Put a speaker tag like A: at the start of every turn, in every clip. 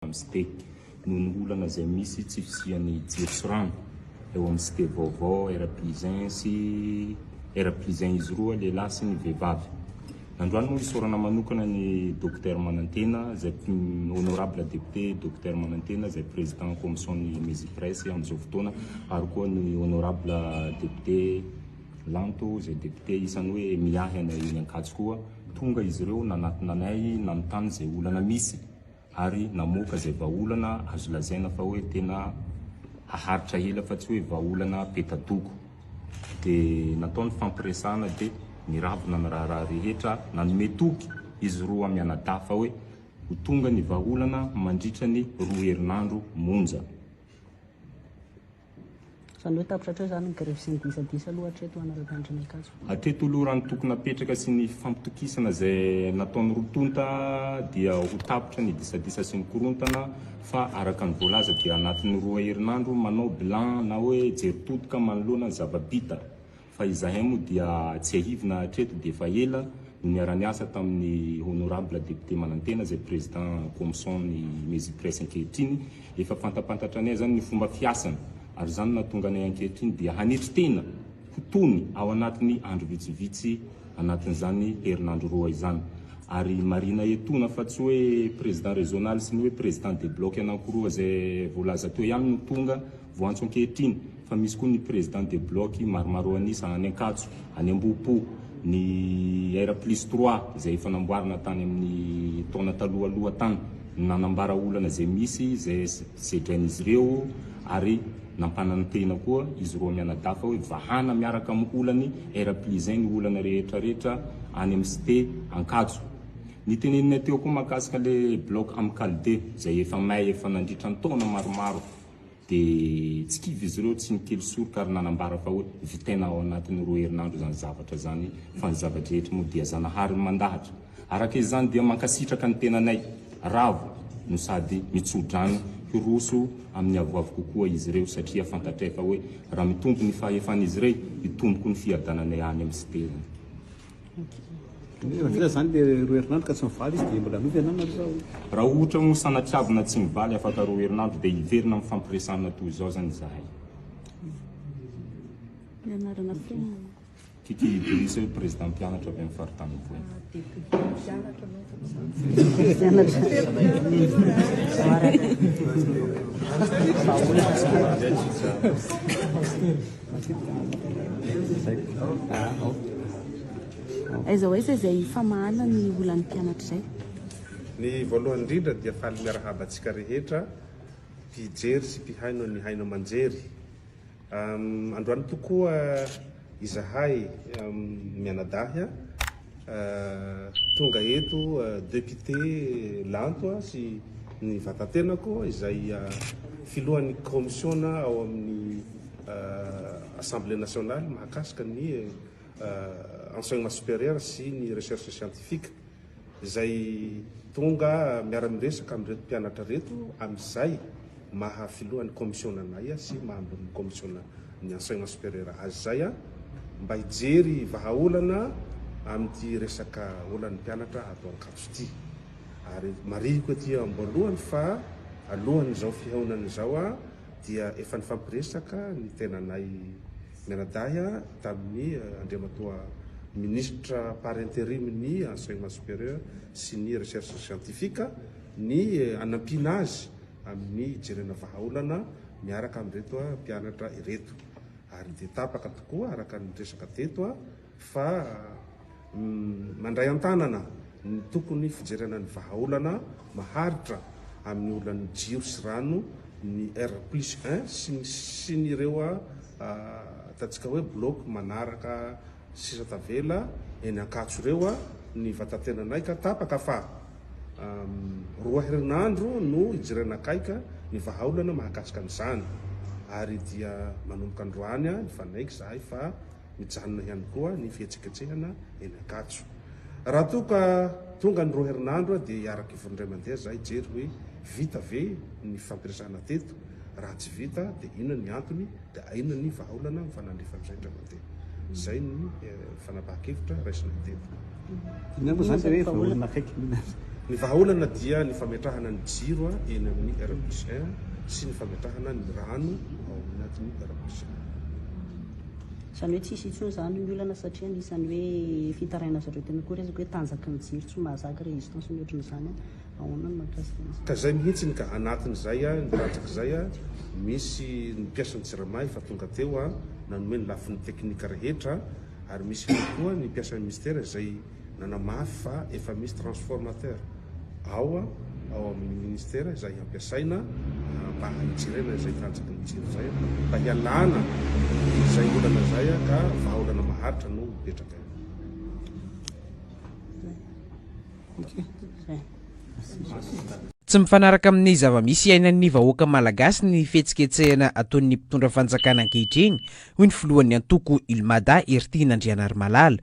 A: amin'ny site noho ny olana izay misy tsy fisian'ny jiro sy rano eo amin'ny site vaovao R plus un sy R plus un izy roa lehilahy sy ny vehivavy. Androany moa isaorana manokana ny Dokotera Manantena izay Honorable Député Dokotera Manantena izay Président Commission'ny Mesipresse amin'izao fotoana ary koa ny Honorable Député Lanto izay Député isan'ny hoe miahy anay eny Ankatso koa. Tonga izy ireo nanatona anay nanontany izay olana misy. ary namoaka izay vahaolana azo lazaina fa hoe tena haharitra ela fa tsy hoe vahaolana peta-doko. Dia natao ny fampiresahana dia niravona ny raharaha rehetra, nanome toky izy roa mianadahy fa hoe ho tonga ny vahaolana mandritra ny roa herinandro monja.
B: Izany hoe tapitra hatreo izany ny grevy sy ny disadisa aloha hatreto ho anareo mpianatra ny Ankatso. Hatreto aloha raha ny
A: tokony hapetraka sy ny fampitokisana izay nataony roa tonta dia ho tapitra ny disadisa sy ny korontana fa araka ny voalaza dia anatin'ny roa herinandro manao bilan na hoe jery totoka manoloana ny zava-bita. fa izahay moa dia tsiahivina hatreto dia efa ela no niara-niasa tamin'ny honorable député manantena izay président comson ny Mezipress ankehitriny, efa fantampantatra anay izany ny fomba fiasany ary izany no nahatonga anay ankehitriny dia hanetry tena ho tony ao anatin'ny andro vitsivitsy anatin'izany herinandro roa izany ary marihina etona fa tsy hoe président régional sy ny hoe président de bloc anankiroa izay voalaza teo ihany no tonga Voantso ankehitriny fa misy koa ny Président de Bloc maromaro an'isa any Ankatso, any Ambohipo, ny R plus trois izay efa namboarina tany amin'ny taona talohaloha tany no nanambara olana izay misy, izay sedrain'izy ireo ary nampanantena koa izy roa mianadahy fa hoe vahana miaraka amin'ny olany R plus un ny olana rehetra rehetra any amin'ny Cité Ankatso. Ny teneninay teo koa mahakasika ilay Bloc Amicale deux izay efa may efa nandritra ny taona maromaro. dia tsy kivy izy ireo, tsy nikely soroka ary nanambara fa hoe vitaina ao anatin'ny roa herinandro izany zavatra izany fa ny zava-drehetra moa dia Zanahary no mandahatra. Araka izany dia mankasitraka ny tenanay ravo no sady mitso-drano hiroso amin'ny avoavo kokoa izy ireo satria fantatray fa hoe raha mitombo ny fahefan'izy irey, hitombo koa ny fiadananay any amin'ny siterany.
C: Raha ohatra moa
A: sanatriavina tsy mivaly afaka roa herinandro dia hiverina amin'ny fampiresahana toy izao izany izahay.
B: Kikky
A: Idriss, Prezidà Mpianatra avy amin'ny Faritany Mpoina.
B: Aiza ho aiza izay famahana ny olan'ny mpianatra izay? Ny
D: voalohany indrindra dia faly miarahaba antsika rehetra mpijery sy mpihaino an'ny Haino Aman-jery. Androany tokoa izahay mianadahy tonga eto, Depute Lanto sy ny vatan-tenako izay filohan'ny kaomisiona ao amin'ny Assemblée nationale mahakasika ny enseignement supérieur sy ny recherche scientifique izay tonga miara-miresaka amin'ireto mpianatra ireto amin'izay maha filohan'ny commission anay sy maha ambonin'ny commission ny enseignement supérieur azy izay mba hijery vahaolana amin'ity resaka olan'ny mpianatra ato Ankatso ity. Ary marihiko ety amboalohany fa alohan'izao fihaonana izao dia efa nifampiresaka ny tenanay mianadahy tamin'ny Andriamatoa Ministra par interim ny Enseignement Supérieur sy ny Recherche Scientifique ny hanampiana azy amin'ny hijerena vahaolana miaraka amin'ireto mpianatra ireto. Ary dia tapaka tokoa araka ny resaka teto fa mandray an-tanana ny tokony fijerena ny vahaolana maharitra amin'ny olan'ny jiro sy rano ny R plus un sy ny sy ny ireo ataontsika hoe bloc manaraka sisa tavela eny Ankatso ireo ny vatantenanay ka tapaka fa roa herinandro no hijerena akaiky ny vahaolana mahakasika an'izany ary dia manomboka androany nifanaiky izahay fa Mijanona ihany koa ny fihetsiketsehana eny Ankatso. Raha toa ka tonga ny roa herinandro dia hiaraka hivony indray mandeha za hijery hoe vita ve ny fampiresahana teto, raha tsy vita dia inona ny antony, dia aina ny vahaolana ny fanandrifana izay indray mandeha. Izay ny fanapahan-kevitra raisina teto.
C: Ny vahaolana
D: dia ny fametrahana ny jiro eny amin'ny R plus un sy ny fametrahana ny rano ao anatin'ny R plus un.
B: Izany hoe tsy hisy intsony izany ny olana satria anisan'ny hoe fitarainana zareo tena koa resaka hoe tanjaky ny jiro tsy mahazaka résistance ny ohatran'izany an! Ahoana ny mahakasika an'izany? Ka izay mihitsiny ka,
D: anatin'izay an, ny rantrak'izay an, misy ny mpiasan'ny Jirama efa tonga teo an, nanome ny lafiny teknika rehetra an, ary misy ihany koa ny mpiasan'ny Minisitera izay. Nanamafy fa efa misy transformateur ao ao amin'ny ministera izay ampiasaina mba hanitsirenana izay tanjaky ny jiro izay mba hialana izay olana izay ka vahaolana maharitra no mipetraka eo.
E: Tsy mifanaraka amin'ny zava-misy iainan'ny vahoaka malagasy ny fihetsiketsehana ataon'ny mpitondra fanjakana ankehitriny, hoy ny filohan'ny antoko Ilmada, Hery Tiana Andrianarimalala.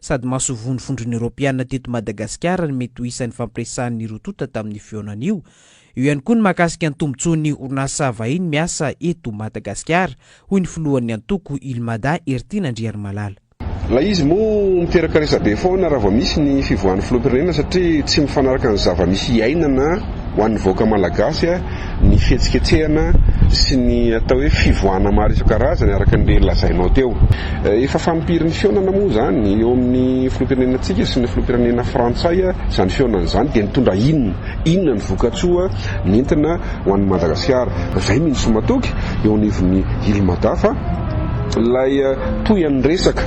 E: Sady masovon'ny Vondrona Eoropeana teto Madagasikara ny mety ho isan'ny fampiresahan'ny roa tonta tamin'io fihaonana io. Eo ihany koa ny mahakasika ny tombontsoan'ny orinasa vahiny miasa eto Madagasikara, hoy ny filohan'ny antoko Ilmada, Hertin Andriarimalala. Ilay izy
F: moa miteraka resabe foana raha vao misy ny fivoahan'ny filoham-pirenena satria tsy mifanaraka ny zava-misy iainana ho an'ny vahoaka malagasy. ny fihetsiketsehana sy ny atao hoe fivoahana maro isan-karazany araka ny lazainao teo. Efa fanimpirin'ny fihaonana moa izany eo amin'ny filoham-pirenenantsika sy ny filoham-pirenena frantsay izany fihaonana izany dia nitondra inona? Inona ny vokatsoa nentina ho an'i Madagasikara? Izay mihintsy no matoky eo anivon'ny Ilmada fa ilay toy an'ny resaka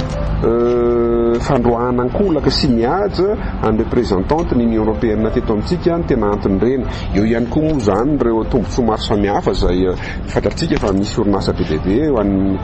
F: fandroahana ankolaka sy mihaja an'ny representant-ny Union Européenne teto amintsika no tena anton'ireny. Eo ihany koa moa izany ireo tombontsoa maro samihafa izay fantatsika fa misy orinasa be dia be ho an'ny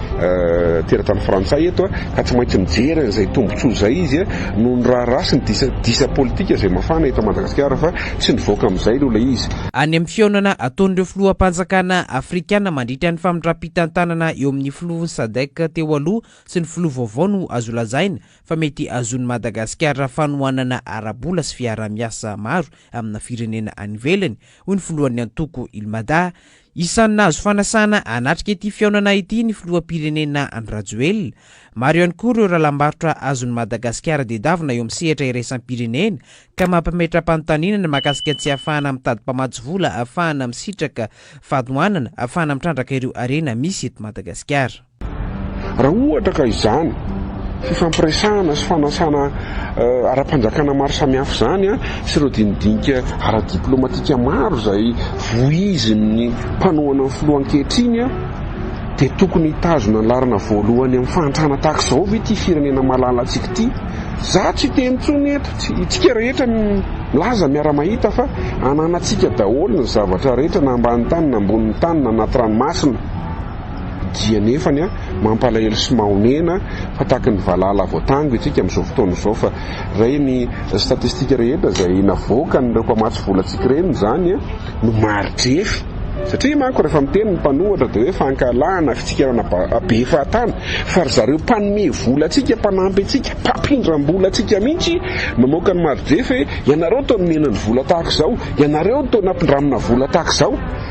F: teratany frantsay eto ka tsy maintsy mijery an'izay tombontsoa izay izy noho ny raharaha sy ny disadisa politika izay mafana eto Madagasikara fa tsy nivoaka amin'izay aloha ilay izy. Any amin'ny fihaonana
E: ataon'ireo filoham-panjakana afrikana mandritra ny famindram-pitantanana eo amin'ny filoha Sadc teo aloha sy ny filoha vaovao no azo lazaina fa mety azon'i Madagasikara fanohanana ara-bola sy fiaraha-miasa maro amina firenena any ivelany, hoy ny filohan'ny antoko Ilmada. Isan'ny nahazo fanasana hanatrika ity fihaonana ity ny filoham-pirenena Andry Rajoelina. Maro ihany koa ireo rahalam-barotra azon'i Madagasikara dedavina eo amin'ny sehatra iraisam-pirenena, ka mampimetra-panontaniana ny mahakasika ny tsy ahafahana mitady mpamatsy vola ahafahana misitraka fanohanana ahafahana mitrandraka ireo harena misy eto Madagasikara. Raha
F: ohatra ka izany fifampiresahana sy fanasana ara-panjakana maro samihafa izany sy ireo dinidinika ara-diplaomatika maro izay voizin'ny mpanohana ny filoha ankehitriny dia tokony hitazona ny laharana voalohany amin'ny fahantrana tahaka izao ve ity firenena malalantsika ity? Za tsy hiteny intsony eto, itsika rehetra milaza miara-mahita fa ananantsika daholo ny zavatra rehetra na ambany tany na ambonin'ny tany na anaty ranomasina. Dia nefany an, mampalahelo sy mahonena fa tahaka ny valala voatango itsika amin'izao fotoana izao fa ireny statistika rehetra izay navoakan'ireo mpamatsy volantsika ireny izany no maridrefy. Satria manko rehefa miteny ny mpanohatra dia hoe fankahalana, fitsikerana be fahatany fa ry zareo mpanome vola antsika, mpanampy antsika, mpampindram-bola antsika mihitsy mamoaka ny maridrefy hoe ianareo toa nomena ny vola tahaka izao, ianareo toa nampindramina vola tahaka izao.